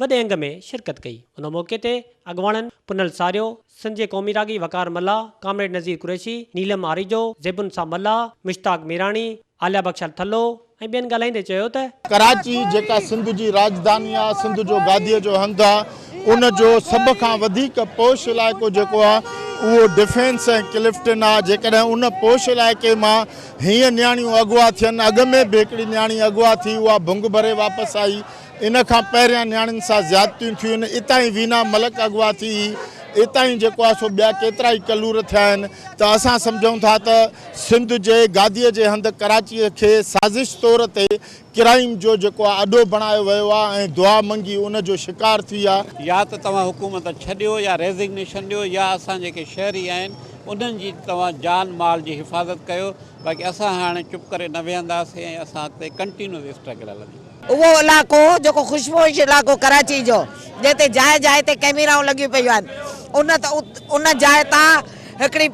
وڏي انگ ۾ شرڪت ڪئي. ان موقعي تي اڳواڻن پنهل ساريو، سنڌ جي قومي راڳي وقار ملاح، ڪامريڊ نذير قريشي، نيلم آريجو، زيبن صاحب ملاح، مشتاق ميراڻي، عاليا بخشال ٿلهو ۽ ٻين ڳالهائيندي چيو ته. ڪراچي جيڪا سنڌ جي راڄڌاني آهي، سنڌ جو گاديء جو هنڌ آهي، ان جو سڀ کان وڌيڪ پوش علائقو جيڪو آهي اهو ڊفينس ۽ ڪلفٽن آهي، جيڪڏهن ان پوش علائقي مان هينئن نياڻيون اغوا ٿين، اڳ ۾ به هڪڙي نياڻي اغوا ٿي اها ڀنگ ڀري واپس آئي، ان کان پهريان نياڻين سان زيادتيون ٿيون، اتان ئي وينا ملڪ اغوا ٿي، اتان ئي جيڪو آهي سو ٻيا ڪيترا ئي ڪلور ٿيا آهن ته اسان سمجهون ٿا ته سنڌ جي گاديء جي هنڌ ڪراچيء کي سازش طور تي ڪرائيم جو جيڪو آهي اڏو بڻايو ويو آهي ۽ دعا منگي ان جو شڪار ٿي آهي. يا ته توهان حڪومت ڇڏيو يا ريزگنيشن ڏيو يا اسان جيڪي شهري آهن انهن جي توهان جان مال جي حفاظت ڪيو باقي اسان هاڻي چپ ڪري نه ويهنداسين ۽ اسان اڳتي ڪنٽينوز اسٽرگل هلندي. اهو علائقو جيڪو خوشپوش علائقو ڪراچي جو جنهن تي جاء جاء تي ڪئميرائون لڳيون پيون آهن ان ان جاء تان هڪڙي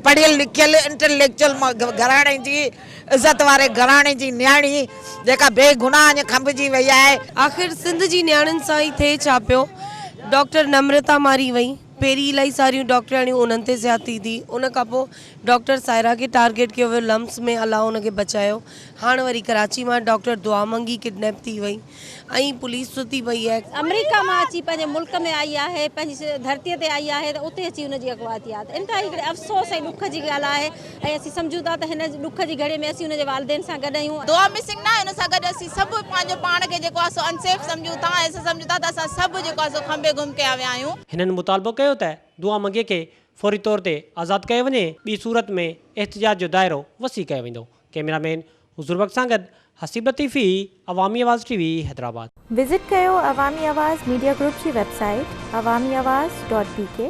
پڙهيل لکيل انٽليڪچل گهراڻي جي عزت واري گهراڻي جي نياڻي جيڪا بي گناهه اڃ کنڀجي وئي آهي. آخر سنڌ جي نياڻين سان ئي ٿئي ڇا پيو ڊاڪٽر نمرتا ماري وئي. پهرين الائي ساريون ڊاڪٽرياڻيون انهن تي زيادتي ٿي ان کان پوء ڊاڪٽر سائره کي ٽارگيٽ ڪيو ويو لمس ۾ الله ان کي بچايو هاڻ وري ڪراچي مان ڊاڪٽر دعا منگي ڪڊنيپ ٿي وئي ۽ پوليس ستي پئي آهي. آمريڪا مان اچي پنهنجي ملڪ ۾ آئي آهي پنهنجي ڌرتي تي آئي آهي ته اتي اچي ان جي اغوا ٿي آهي ته انتهائي هڪڙي افسوس ۽ ڏک جي ڳالهه آهي. ۽ اسين سمجهون ٿا ته هن ڏک جي گهڙي ۾ اسين هن جي والدين سان گڏ آهيون. دعا مسنگ ناهي ان سان گڏ اسين سڀ پنهنجو پاڻ کي جيڪو آهي سو انسيف سمجهون ٿا ۽ اسين سمجهون ٿا ته اسان سڀ جيڪو آهي سو کنڀي گم ڪيا ويا آهيون. هنن مطالبو ڪيو ته دعا منگي کي فوري طور تي آزاد ڪيو وڃي ٻي صورت ۾ احتجاج جو دائرو وسيع ڪيو ويندو. ڪئميرا مين حضور بخش سان گڏ Haseeb Latifi Awami Awaz T V Hyderabad. Visit ڪيو عوامي آواز ميڊيا گروپ جي website Awami Awaz dot بي ڪي.